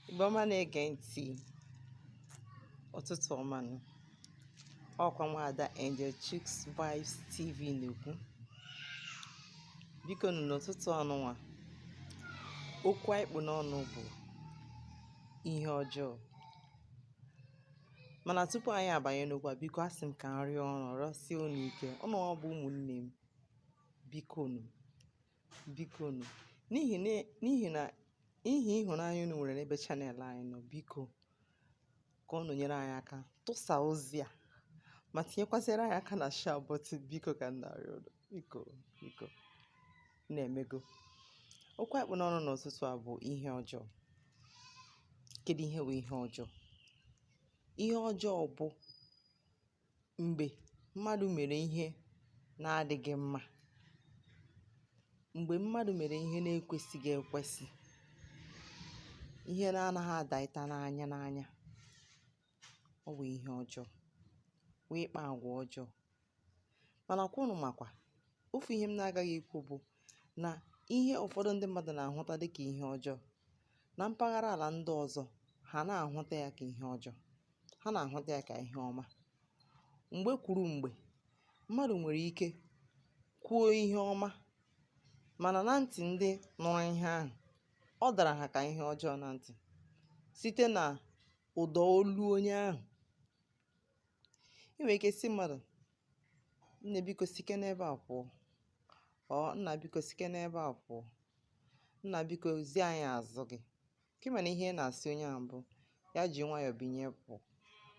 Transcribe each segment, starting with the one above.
Igbo ọma na-ege ntị ụtụtụ ọma nụ ọkwa nwaada Angel Chuks Vibes TV na-ekwu biko nụ n'ụtụtụ ọnụnwa okwu anyị kpụ n'ọnụ bụ ihe ọjọọ mana tupu anyị abanye n'okwu a biko asị m ka m rịọ unu rịọsie unu ike unu wa bụ ụmụnne m biko nụ biko nụ n'ihi na n'ihi na n'ihi ịhụnanya unu nwere n'ebe channel anyị nọ biko ka unu nyere anyị aka tụsa ozi a ma tinyekwasịrị anyị aka na share button biko ka m na-arịọ unu biko biko na-emego okwu anyị kpụ n'ọnụ n'ụtụtụ a bụ ihe ọjọọ kedu ihe bụ ihe ọjọọ ihe ọjọọ bụ mgbe mmadụ mere ihe na-adịghị mma mgbe mmadụ mere ihe na-ekwesịghị ekwesị ihe na-anaghị adaịta n'anya n'anya ọ bụ ihe ọjọọ bụ ịkpa agwa ọjọọ mana ka unu makwa ofu ihe m na-agaghị ikwu bụ na ihe ụfọdụ ndị mmadụ na-ahụta dịka ihe ọjọọ na mpaghara ala ndị ọzọ ha na-ahụta ya ka ihe ọjọọ ha na-ahụta ya ka ihe ọma mgbe kwuru mgbe mmadụ nwere ike kwuo ihe ọma mana na ntị ndị nụrụ ihe ahụ ọ dara ha ka ihe ọjọọ na ntị site na ụda olu onye ahụ ị nwere ike sị mmadụ nne biko sike n'ebe a pụọ or nna biko sike n'ebe a pụọ nna biko zi anyị azụ gị Ka ị ma na ihe ị na-asị onye ahụ bụ ya ji nwayọọ binie pụọ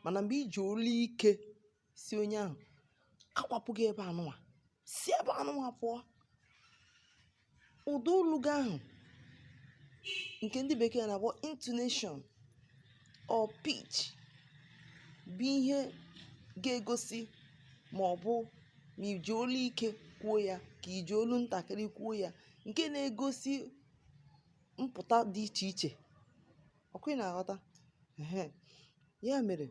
mana mgbe i ji olu ike sị onye ahụ akwapụ gị ebe anụnwa si ebe anụnwa pụọ ụda olu gị ahụ nke ndị bekee na-akpọ intonation or pitch bụ ihe ga-egosi ma ọ bụ ma i ji olu ike kwuo ya ka i ji olu ntakịrị kwuo ya nke na-egosi mpụta dị iche iche ọkwa ị na-aghọta ya mere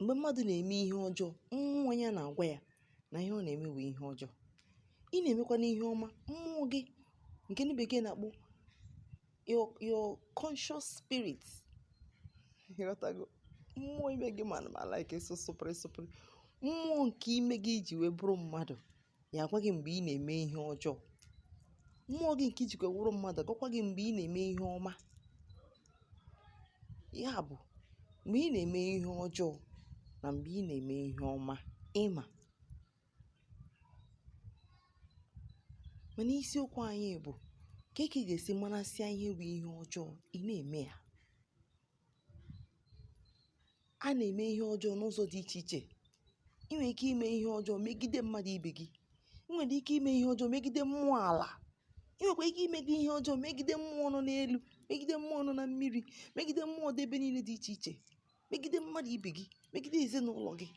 mgbe mmadụ na-eme ihe ọjọọ mmụọ ya na-agwa ya na ihe ọ na-eme bụ ihe ọjọọ ị na-emekwanụ ihe ọma mmụọ gị nke ndị bekee na-akpọ your your conscious spirit ị ghọtago mmụọ ime gị mana ma like spirit spirit mmụọ nke ime gị i ji wee bụrụ mmadụ ya agwa gị mgbe ị na-eme ihe ọjọọ mmụọ gị nke i jikwa wụrụ mmadụ agwakwa gị mgbe ị na-eme ihe ọma ya bụ mgbe ị na-eme ihe ọjọọ na mgbe ị na-eme ihe ọma ị ma mana isiokwu anyị bụ ka ị ga-esi marasịa ihe bụ ihe ọjọọ ị na-eme ya a na-eme ihe ọjọọ n'ụzọ dị iche iche ị nwere ike ime ihe ọjọọ megide mmadụ ibe gị ị nwere ike ime ihe ọjọọ megide mmụọ ala ị nwekwa ike imegide ihe ọjọọ megide mmụọ nọ n'elu megide mmụọ nọ na mmiri megide mmụọ dị ebe niile dị iche iche megide mmadụ ibe gị megide ezinụlọ gị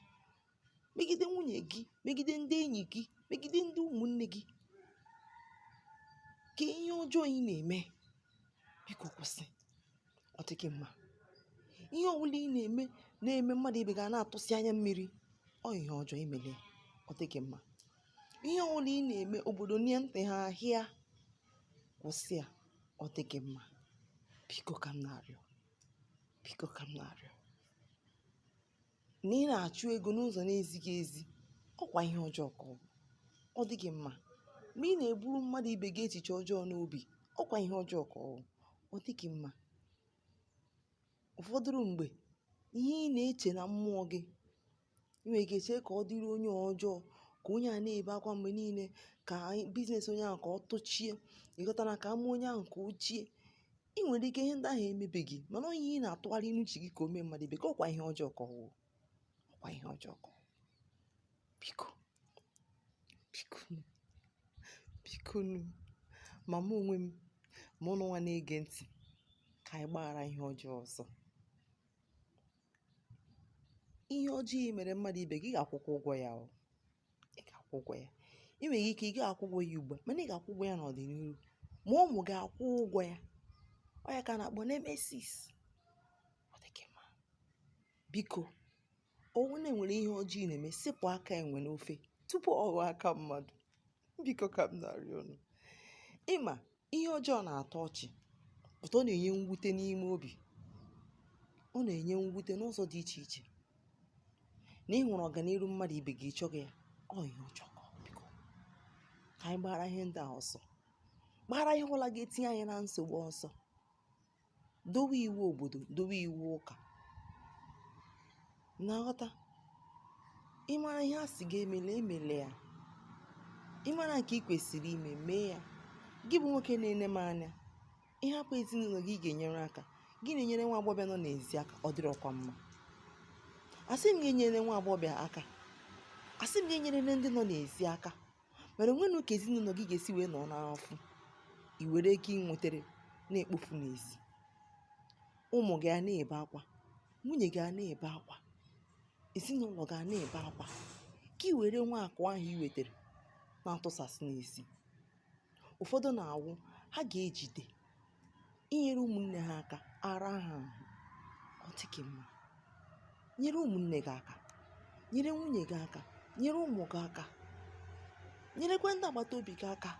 megide nwunye gị megide ndị enyi gị megide ndị ụmụnne gị ka ihe ọjọọ ị na-eme biko kwụsị ọ dịghị mma ihe ọbụla ị na-eme na-eme mmadụ ibe gị a na-atụsị anya mmiri ọ ihe ọjọọ i mere ya ọ dịghị mma ihe ọbụla ị na-eme obodo nye ntị ha ahịa kwụsị ya ọ dịghị mma biko ka m na-arịọ biko ka m na-arịọ na ị na-achụ ego n'ụzọ na-ezighị ezi ọkwa ihe ọjọọ ka ọ bụ ọ dịghị mma ma ị na-eburu mmadụ ibe gị echiche ọjọọ n'obi ọkwa ihe ọjọọ ka ọ bụ ọ dịghị mma ụfọdụrụ mgbe ihe ị na-eche na mmụọ gị ị nwere ike chee ka ọ dịrị onye ọjọọ ka onye a na-ebe akwa mgbe niile ka biznes onye ahụ ka ọ tụchie ị ghọtana ka ama onye ahụ ka o chie ị nwere ike ihe ndị ahụ emebeghị mana ọ ihe ị na-atụgharị n'uche gị ka o mee mmadụ ibe gị ọkwa ihe ọjọọ ka ọ wụ ọkwa ihe ọjọọ ka biko biko bikonụ ma mụ onwe m ma ụnụ nwa na-ege ntị ka anyị gbaghara ihe ọjọọ ọsọ ihe ọjọọ i mere mmadụ ibe gị ị ga-akwụkwa ụgwọ ya o ị ga-akwụ ụgwọ ya ị nwere ike ị ga-akwụ ụgwọ ya ugbu a mana ị ga-akwụ ụgwọ ya n'ọdịniru ma ụmụ gị akwụọ ụgwọ ya ọ ya ka a na-akpọ nemesis ọ dịghị mma biko ọ wụrụ na e nwere ihe ọjọọ ị na-eme sepụ aka enwe n'ofe tupu ọ ghọọ aka mmadụ biko ka m na-arịọ unu ị ma Ihe ọjọọ na-atọ ọchị, but ọ na-enye mwute n'ime obi. Ọ na-enye mwute n'ụzọ dị iche iche. Na ị hụrụ ọganiru mmadụ ibe gị, ị chọghị ya. Ọ ihe ọjọọ ka ọ biko. Ka anyị gbara ihe ndị a ọsọ. Gbara ihe ọbụla ga-etinye anyị na nsogbu ọsọ. dowe iwu obodo dowe iwu ụka na-aghọta ịmara ihe a sị gị emela emele ya ịmara nke ị kwesịrị ime mee ya gị bụ nwoke na-ene m anya ị hapụ ezinụlọ gị ị ga-enyere aka gị na-enyere nwa agbọghọbịa nọ n'ezi aka ọ dịrọkwa mma asị m gị enyerene nwa agbọghọbịa aka asị m gị enyerene ndị nọ n'ezi aka mana onwenụ ka ezinụlọ gị ga-esi wee nọ n'afụfụ i were ego ị nwetara na-ekpofu n'ezi ụmụ gị a na-ebe akwa nwunye gị a na-ebe akwa ezinụlọ gị a na-ebe akwa ka i were nwa akụ ahụ i wetara na-atụsasị n'ezi ụfọdụ na-awụ ha ga-ejide inyere ụmụnne ha aka ara ha ahụ ọ dịghị mma nyere ụmụnne gị aka nyere nwunye gị aka nyere ụmụ gị aka nyerekwa ndị agbata obi gị aka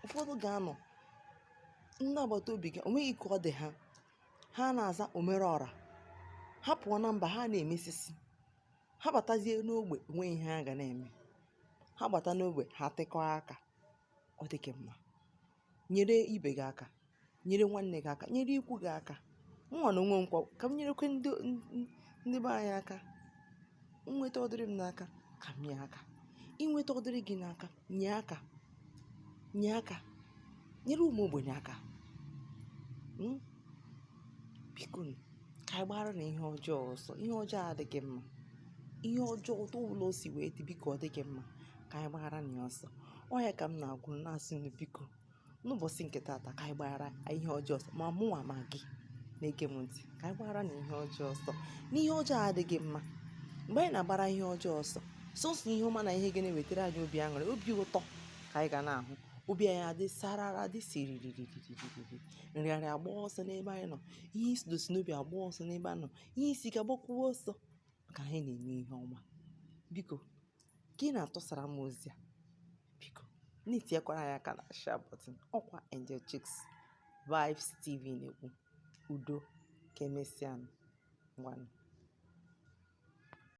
ụfọdụ ga-anọ ndị agbata obi gị onweghị ka ọ dị ha ha na-aza omere ọra ha pụọ na mba ha na-emesisi ha batazie n'ogbe onweghị ihe ha ga na-eme ha gbata n'ogbe ha tịkọọ aka ọ dịghị mma nyere ibe gị aka nyere nwanne gị aka nyere ikwu gị aka mụnwa na onwe m kwa ka m nyerekwa ndị be anyị aka nweta ọ dịrị m n'aka ka m nye aka i nweta ọ dịrị gị n'aka nye aka nye aka nyere ụmụ ogbenye aka hmm? biko ka anyị gbara na ihe ọjọọ ọsọ ihe ọjọọ adịghị mma ihe ọjọọ otu ọbụla o si wee dị biko ọ dịghị mma ka anyị gbara na ya ọsọ ọ ya ka m na-agwa unu na-asị unu biko n'ụbọchị nke taata ka anyị gbara ihe ọjọọ ọsọ ma mụnwa ma gị na-ege m ntị ka anyị gbara na ihe ọjọọ ọsọ na ihe ọjọọ adịghị mma mgbe anyị na-agbara ihe ọjọọ ọsọ sọsọ ihe ọma na ihe ga na-ewetara anyị obi aṅụrị obi ụtọ ka anyị ga na-ahụ obi anyị adị sarara dị siririririririri nrịanrịa agba ọsọ n'ebe anyị nọ ihe isi dosi n'obi agba ọsọ n'ebe anyị nọ ihe isi ike agbakwuo ọsọ maka anyị na-eme ihe ọma biko ka ị na-atụsara m ozi a biko na-etinyekwara anyị aka na share button ọkwa Angel Chicks Vibes TV na-ekwu udo ka emesịa ngwanụ